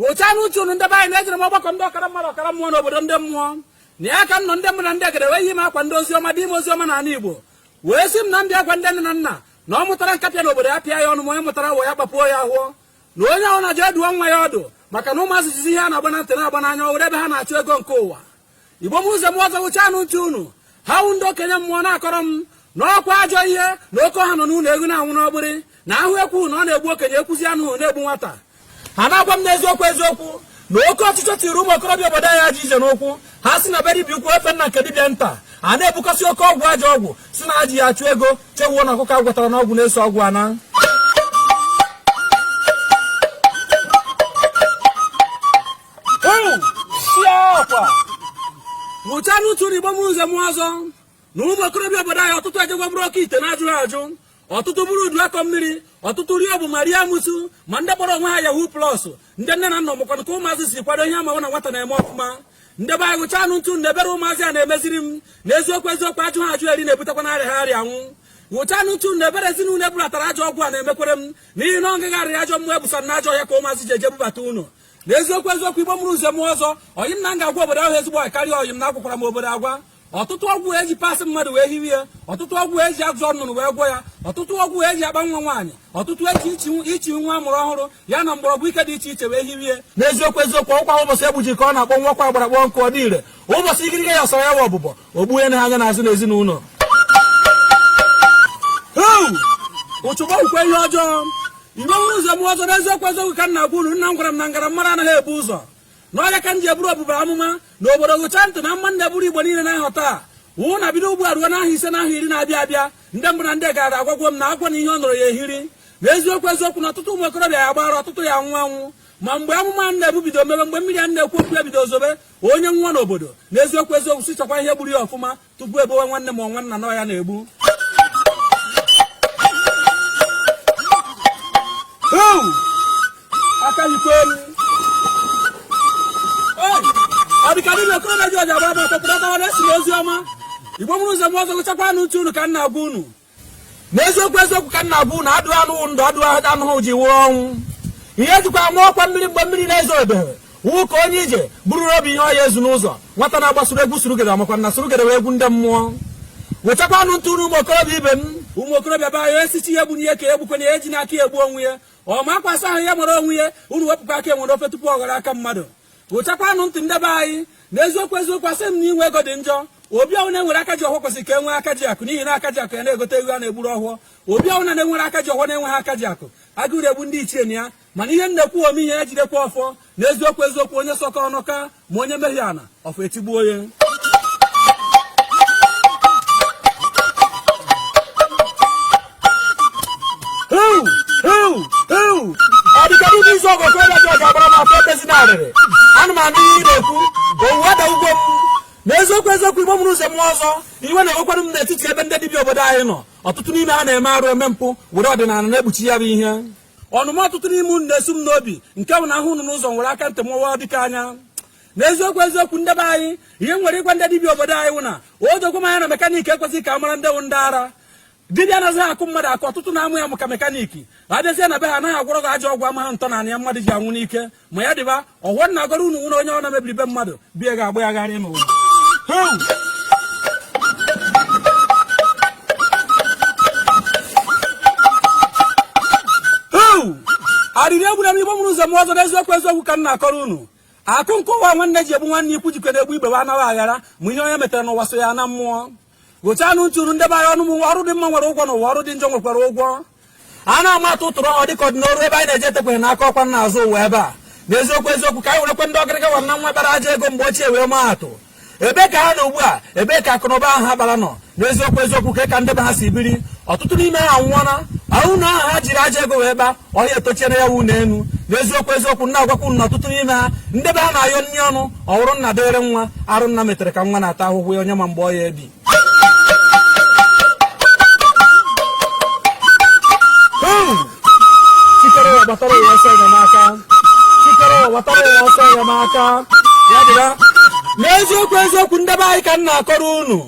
wụchaanụ ntị unu ndị be anyị na ejere m ọgbakọ ndị ọkara mmadụ ọkara mmụọ n'obodo ndị mmụọ na ya ka m nọ ndị mbụ na ndị egede wee zi m agwa ndị ozi ọma dị ime ozi ọma n'ala Igbo wee sị m na m ya-agwa ndị nne na nna na ọ mụtara nkapị n'obodo ya pịa ya ọnụ ma onye mụtara awọ ya kpapuo ya ahọ na onye ọbụna jee dụọ nwa ya ọdụ maka na ụmụazị jizi ihe a na-agba na ntị na-agba n'anya ọ wụrụ ebe ha na-achụ ego nke ụwa igbo mụrụ nze mụọ ọzọ wụchaanụ ntị unu ha wụ ndị okenye mmụọ na-akọrọ m na ọkwa ajọ ihe na oke ọha nọ n'ụlọ ewu na-anwụ n'ọgbịrị na ahụ ekwu na ọ na-egbu okenye ekwuzi anụ na-egbu nwata ha na-agwa m n'eziokwu eziokwu na oke ọchịchọ tiri ụmụ okorobịa obodo anyị ajọ ije n'ụkwụ ha si na be dibịa ukwu efe na nke dibịa nta ha na-ebukọsị oke ọgwụ ajọ ọgwụ sị na ha ji ya achụ ego chewuo na ọkụkọ agwọtara n'ọgwụ na-eso ọgwụ ana wụchaanụ ntị unu igbo mụrụ nze mụọ ọzọ na ụmụ okorobịa obodo anyị ọtụtụ ejego buru oke ite na-ajụghị ajụ ọtụtụ buru udu akọ mmiri ọtụtụ rie bụ ma rie amosu ma ndị kpọrọ onwe ha yahoo plus ndị nne na nna mụkwana ka ụmụazị si kwado ihe amaghị na nwata na-eme ọfụma ndị be anyị wụchaanụ ntị na ebere ụmụazị a na-emeziri m na eziokwu eziokwu ajụha ajụ eri na-ebutekwanụ arịaha arịa anwụ wụchaanụ ntị na ebere ezinụlọ ebulatara ajọ ọgwụ a na-emekwere m n'ihi na ọ ngagharị ajọ mmụọ ebusara n'ajọ ọhịa ka ụmụazị ji eje bubata ụnọ na eziokwu eziokwu igbo mụrụ nze mụọ ọzọ oyi m na m ga-agwa obodo a wụ ezigbo karịa oyi m na agwakwara m obodo agwa ọtụtụ ọgwụ eji parts mmadụ wee hiwe ya ọtụtụ ọgwụ eji ajọ nnụnụ wee gwọọ ya ọtụtụ ọgwụ eji akpa nwa nwaanyị ọtụtụ eji ichi nwa amụrụ ọhụrụ ya na mgbọrọgwụ ike dị iche iche wee hiwe ya n'eziokwu eziokwu ọkwa ụbọchị egbuji ka ọ na-akpọnwụkwa agbara kpọọ nkụ ọ dị ire ụbọchị ikirike ya sọrọ ya wa ọbụbọ ogbu ya na anya n'azụ n'ezinụlọ ụchụ gbakwa ihe ọjọọ igbo mụrụ nze mụọ ọzọ n'eziokwu eziokwu ka m na-agwa unu nna m gwara m na m gara amara anaghị ebu ụzọ na ọ ya ka m ji eburu obodo a amụma na obodo wụchaa ntị na amụma m na-eburu igbo niile na-ahọ taa wụ na bido ugbu a ruo n'ahọ ise na ahọ iri na-abịa abịa ndị mbụ na ndị egede agwago m na agwọ na ihe o noro ya-ehiri na eziokwu eziokwu na ọtụtụ ụmụ okorobịa ya-agba ara ọtụtụ ya-anwụ anwụ ma mgbe amụma a na-ebu bido mebe mgbe mmiri a na-ekwu okwu ya bido zobe onye nwụọ n'obodo na eziokwu eziokwu si chọkwa ihe gburu ya ọfụma tupu ebowe nwanne ma nwanna na ọ ya na-egbu aka yikwa elu ọ dịka niile okoro na ji ọja bụ abụ ọtọpụrụ ọtawa na-esi n'ozi ọma igbo mụrụ nze mụọ ọzọ wụchakwanụ ntị unu ka m na-agwa unu n'eziokwu eziokwu ka m na-agwa unu adụ anụ ndụ adụ anụhụ ji wụrụ ọnwụ ihe e jikwa ama ọkwa mmiri mgbe mmiri na-ezobeghị wụ ka onye ije buru n'obi ihe ọ ya-ezu n'ụzọ nwata na-agbasoro egwu surugede makwa na surugede wụ egwu ndị mmụọ wụchakwanụ ntị unu ụmụ okorobịa ibe m ụmụ okorobịa be anyị esichi ihe gbunye ka egbukwana ya ejina aka egbu onwe ya ọ ma akwa asa ahụ ya mara onwe ya unu wepụkwa aka enwe n'ofe tupu ọ ghọrọ aka mmadụ wụchakwanụ ntị nde be anyị na eziokwu eziokwu asị m na inwe ego dị njọ obi ọwụna e nwere aka ji ọfọ kwesịrị ka e nwee aka ji akụ n'ihi na aka ji akụ ya na-egote eghu a na-egburu ọfọ obi ọwụna na-enwere aka ji ọfọ na-enweghị aka ji akụ agụụ na-egbu ndị ichie na ya mana ihe m na-ekwu ome ihe ya jidekwa ọfọ na eziokwu eziokwu onye sọkọ ọnụ ka ma onye mehie ana ọfọ etigbuo onye ọ dịka ndị isi okorobịa ji ọja gbara m afa tezi na arịrị ana m anụ ihe ị na-ekwu owuwe ada ugbo m na eziokwu eziokwu igbo mụrụ ụzọ m ọzọ iwe na-ewekwanụ m n'etiti ebe ndị dibịa obodo anyị nọ ọtụtụ n'ime ha na-eme arụ eme mpụ were ọdịnala na-ekpuchi ya bụ ihe ọnụma ọtụtụ n'ime unu na-esu m n'obi nke bụ na ahụ unu n'ụzọ nwere aka ntị mụwa dịka anya n'eziokwu eziokwu nde be anyị ihe m nwere ịgwa ndị dibịa obodo anyị wụ na o dokwe m anya na mekaniki ekwezighị ka a mara ndị wụ ndị ara dibịa anaghị akụ mmadụ akụ ọtụtụ na-amụ ya maka mekaniki ma a bịazie na be ha anaghị agwọrọ gị ajọ ọgwụ amaghị ntọana ya mmadụ ji anwụ n'ike ma ya dịba ọfọ m na-agọrọ unu nwere onye ọwụna mebiri be mmadụ be ya ga-agba ya gharị n'ụwa arịrị egbuna m igbo mụrụ ụzọ m ọzọ n'eziokwu eziokwu ka m na-akọrọ unu akụ nke ụwa nwanne ji egbu nwanne ikwu jikọ na-egbu ibe wa anaghị aghara ma ihe onye metere n'ụwa so ya na mmụọ gechanụ ntụrụ nde be anyị ọnụ m ọrụ dị mma nwere ụgwọ n'ụwa ọrụ dị njọ nwekwara ụgwọ a na-ama atụ ụtụrụ ọ dịka ọdịnọrụ ebe anyị na-eje etekweghị n'aka ọ kwa n'azụ ụwa ebe a n'eziokwu eziokwu ka anyị werekwe ndị ọgịrịga wa na nwa bara aja ego mgbe ochie wee maa atụ ebe ka ha nọ ugbu a ebe ka akụnụba ahụ ha bara nọ n'eziokwu eziokwu ka ka nde be ha si biri ọtụtụ n'ime ha anwụọna ụnọ ahụ ha jiri aja ego wee gbaa ọhịa etochiere ya wu n'elu n'eziokwu eziokwu m na-agwakwa unu na ọtụtụ n'ime ha ndị be ha na-ayọ nri ọnụ ọrụ nna dịrị nwa arụ nna metere ka nwa na-ata ahụhụ ya onye ma mgbe ọ ya-ebi chi kere ụwa gbatara ụwa ọsọ enyemaka chi kere ụwa gbatara ụwa ọsọ enyemaka ya dịra n'eziokwu eziokwu nde be anyị ka m na-akọrọ unu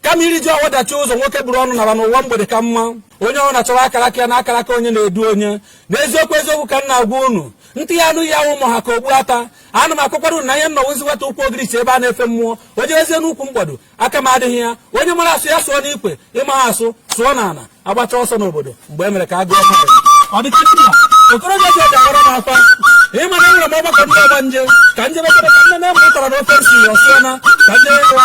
kama irijuo afọ dachie ụzọ nwoke buru ọnụ naba n'ụwa mgbede ka mma onye ọwụna chọwa akara aka ya na akara aka onye na-edu onye n'eziokwu eziokwu ka m na-agwa unu ntị ya-anụ ihe ama ha ka okpu ata ana m akọkwara unu na ihe m nọ wụzi nwata ukwu ogirichi ebe a na-efe mmụọ onye ezie n'ukwu mgbado aka m adịghị ya onye mara asụ ya sụọ n'ikwe ị maha asụ sụọ n'ana agbacha ọsọ n'obodo mgbe e mere ka a gụọ mmadụ ọ dịcha ndị a okorobịa ji ọja agbara m afa ị ma na enwere m ọgbakọ ndị ọgbanje ka m je mekere ka nne na-eme ụtara na ofe nsi ọsịa na ka m je ịwa